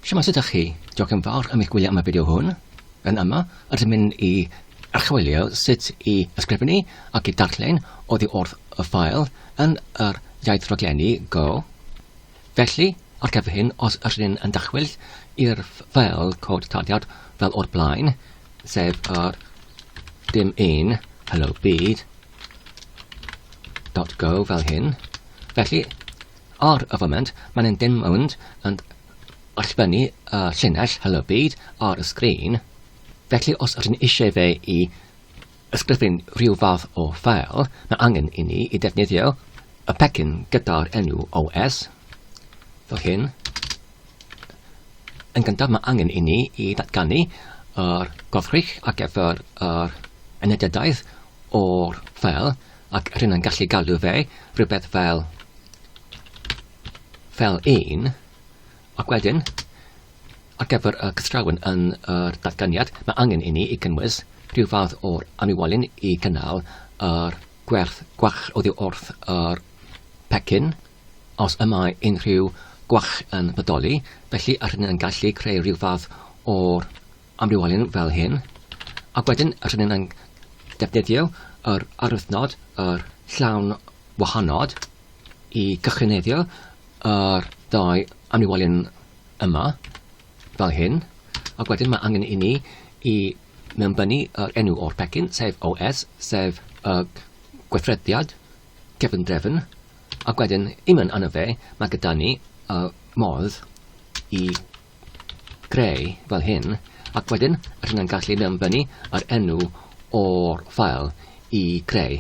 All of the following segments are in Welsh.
Shwmae sut ych chi? Diolch yn fawr am eich gwylio am y fideo hwn. Yn yma, rydym mynd i archwilio sut i ysgrifennu ac i darllen oddi wrth y ffael yn yr iaith raglenni Go. Felly, ar gyfer hyn, os ydych chi'n yn dachwyllt i'r ffael cod taliad fel o'r blaen, sef yr dim un hello byd dot go fel hyn, felly Ar y foment, maen dim ond yn allbynnu y llinell Helo Byd ar y sgrin, felly os ydyn ni eisiau fe i ysgrifennu rhyw fath o ffeil, mae angen i ni i ddefnyddio y pecyn gyda'r enw OS, fel hyn. Yn gyntaf, mae angen i ni i ddatganu yr gofrych ar gyfer yr enediadaeth o'r ffeil, Ac rŷn yn gallu galw fe rhywbeth fel fel 1, ac wedyn, ar gyfer y cystrawen yn yr datganiad, mae angen i ni i gynnwys rhyw fath o'r anniwolyn i gynnal yr gwerth gwach oddi wrth yr pecyn, os y mae unrhyw gwach yn bodoli, felly a rŷn yn gallu creu rhyw fath o'r amrywiol fel hyn, ac wedyn rydyn ni'n yn defnyddio yr arwythnod, yr llawn wahanod, i gychwyneddio yr ddau amrywiol yma, fel hyn, ac wedyn mae angen i ni i mewnbynnu yr enw o'r pecyn, sef OS, sef y gweithrediad cefndrefn, ac wedyn i mewn arno fe, mae gyda ni y modd i greu fel hyn, ac wedyn rydyn yn gallu dyfynnu yr enw o'r ffael i greu,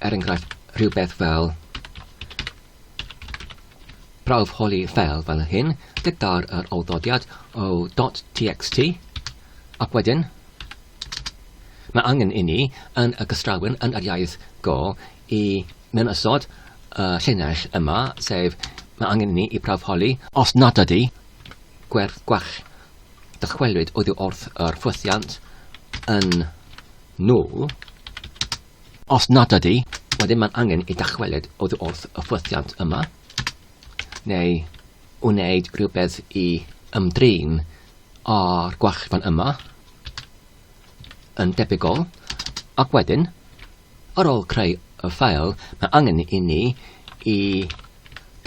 er enghraifft, rhywbeth fel prawf holi ffel fel hyn, gyda'r yr awddodiad o .txt, ac wedyn mae angen i ni yn y gystrawyn yn yr iaith go i mewn ystod y llinell yma, sef mae angen i ni i prawfholi os nad ydy gwerth gwell dychwelyd oddi wrth yr ffwythiant yn nwl. Os nad ydy, wedyn mae'n angen i dychwelyd oddi wrth y ffwythiant yma, neu wneud rhywbeth i ymdrin â'r gwell fan yma yn debygol, ac wedyn Ar ôl creu y ffeil, mae angen i ni i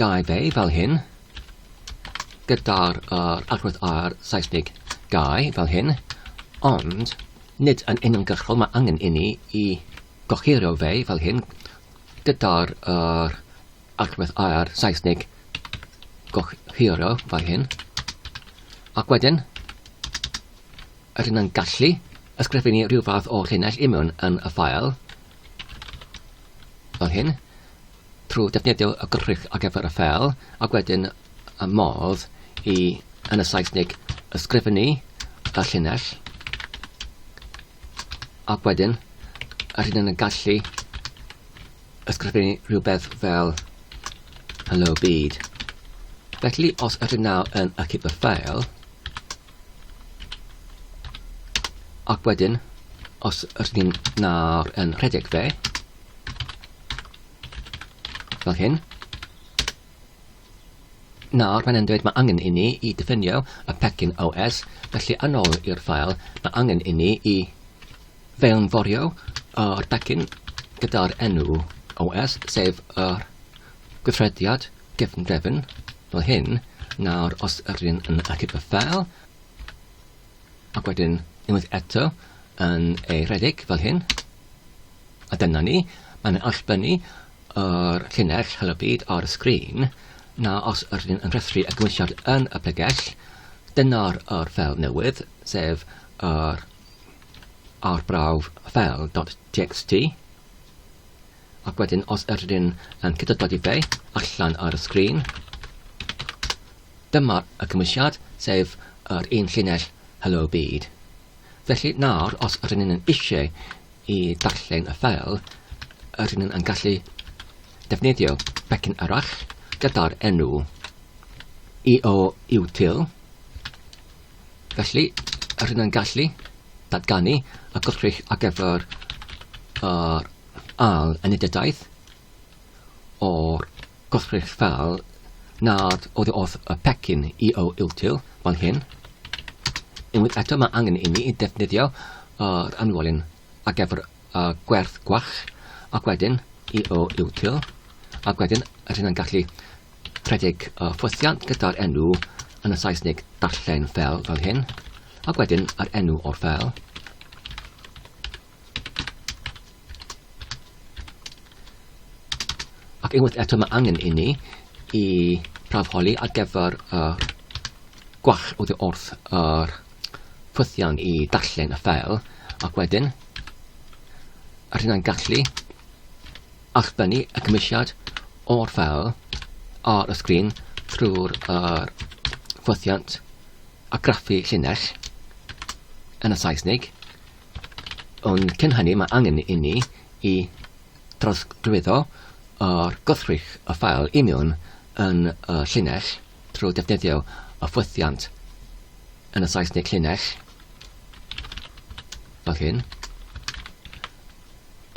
gau fe fel hyn, gyda'r yr agwedd ar Saesneg gau fel hyn, ond nid yn uniongyrchol, mae angen i ni i gohirio fe fel hyn, gyda'r yr Alt with I ar Saesneg, gohirio fel hyn. Ac wedyn, rydyn yn gallu ysgrifennu rhyw fath o llinell imiwn yn y ffael, fel hyn, trwy defnyddio y gwrthrych ar gyfer y ffel, ac wedyn y modd i, yn y Saesneg, ysgrifennu y llinell, ac wedyn, rydyn yn gallu Os gyda ni rhywbeth fel hello byd. Felly os ydyn nawr yn y cipper ffael, ac wedyn os ydyn ni'n nawr yn rhedeg fe, fel hyn, Nawr mae'n dweud mae angen i ni i diffinio y pecyn OS, felly yn ôl i'r ffael, mae angen i ni i Fe'wn forio o'r becyn gyda'r enw OS, sef yr gweithrediad gefndrefn, fel hyn, nawr os yrryn yn archif y ffeil, ac wedyn unwaith eto yn ei redeg fel hyn, a dyna ni, mae'n allbynnu yr llinell Helo Byd ar y sgrin, na os yrryn yn rhestru y gymwysiad yn y pregell, dyna'r yr ffeil newydd, sef yr arbrawf fel .txt ac wedyn os ydyn yn cyda dogifeu allan ar y sgrin, dyma y cymwysiad, sef yr un llinell Hello Byd. Felly nawr, os ydyn yn eisiau i darllen y ffel, ydyn yn gallu defnyddio becyn arall gyda'r enw EO Util, Felly, rydyn yn gallu datganu y gwrthrych ar gyfer yr ail enedidaeth o'r gwrthrych fel nad oedd wrth y pecyn EO util fel hyn. Unwaith eto mae angen i ni ddefnyddio yr anwolyn ar gyfer y gwerth gwach ac wedyn EO util ac wedyn rydyn yn gallu Rhedeg y ffwythiant gyda'r enw yn y Saesneg darllen ffel fel hyn, ac wedyn yr enw o'r ffel. Ac unwaith eto mae angen i ni i prawfholi ar gyfer y gwall oddi wrth yr ffwythiant i darllen y ffel ac wedyn yr hynna'n gallu Ac dyni y cymwysiad o'r ffeil ar y sgrin trwy'r yr ffwythiant a graffu llinell yn y Saesnig, ond cyn hynny mae angen i ni i drawsglwyddo ar gwrthrych y ffeil i mewn yn y llinell trwy ddefnyddio y ffwythiant yn y Saesnig llinell, fel hyn,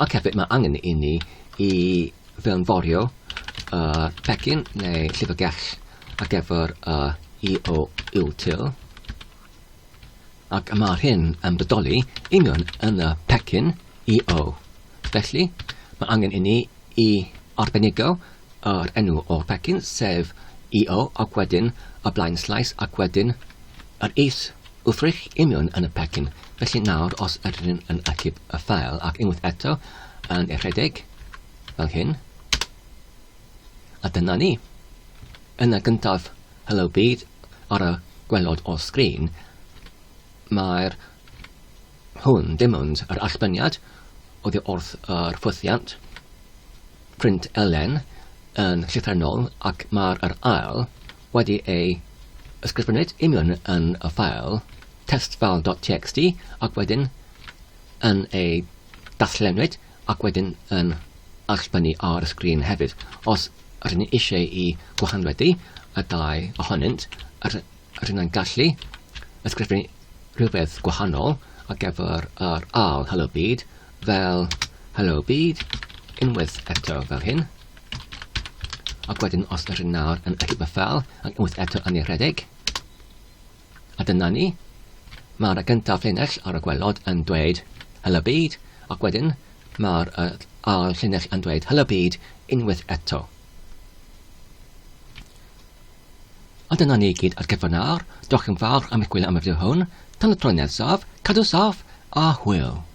Ac hefyd mae angen i ni i fewnforio y pecyn neu llyfrgell ar gyfer y EO util ac mae'r hyn yn bodoli union yn y pecyn EO. Felly, mae angen i ni i arbenigo yr enw o'r pecyn, sef EO, ac wedyn y blaen slaes ac wedyn yr is Wrthrych union yn y pecyn, felly nawr os ydyn yn yn achub y ffael ac unwaith eto yn ei rhedeg, fel hyn, a dyna ni. Yna gyntaf Hello Byd ar y gwelod o'r sgrin, mae'r hwn dim ond yr allbyniad oddi wrth yr ffwythiant, print Elen yn llythrennol ac mae'r yr ail wedi ei ysgrifennu nid yn union yn y ffeil testfile.txt ac wedyn yn ei darllennu ac wedyn yn allbynnu ar y sgrin hefyd. Os rydyn ni eisiau i gwahanwedu y dau ohonynt, rydyn ni'n gallu ysgrifennu rhywbeth gwahanol ar gyfer yr ail helo byd Fel, Helo byd, unwaith eto fel hyn. Ac wedyn os ydyn nawr yn edrych fel, ac unwaith eto yn ei rhedeg. A dyna ni. Mae'r gyntaf llinell ar y gwelod yn dweud Helo byd, ac wedyn mae'r uh, ail llinell yn dweud Helo byd, unwaith eto. A dyna ni gyd ar gyfer nawr. Diolch yn fawr am eich gwylio am y fideo hwn. Tan y tro nesaf, cadw saff a hwyl!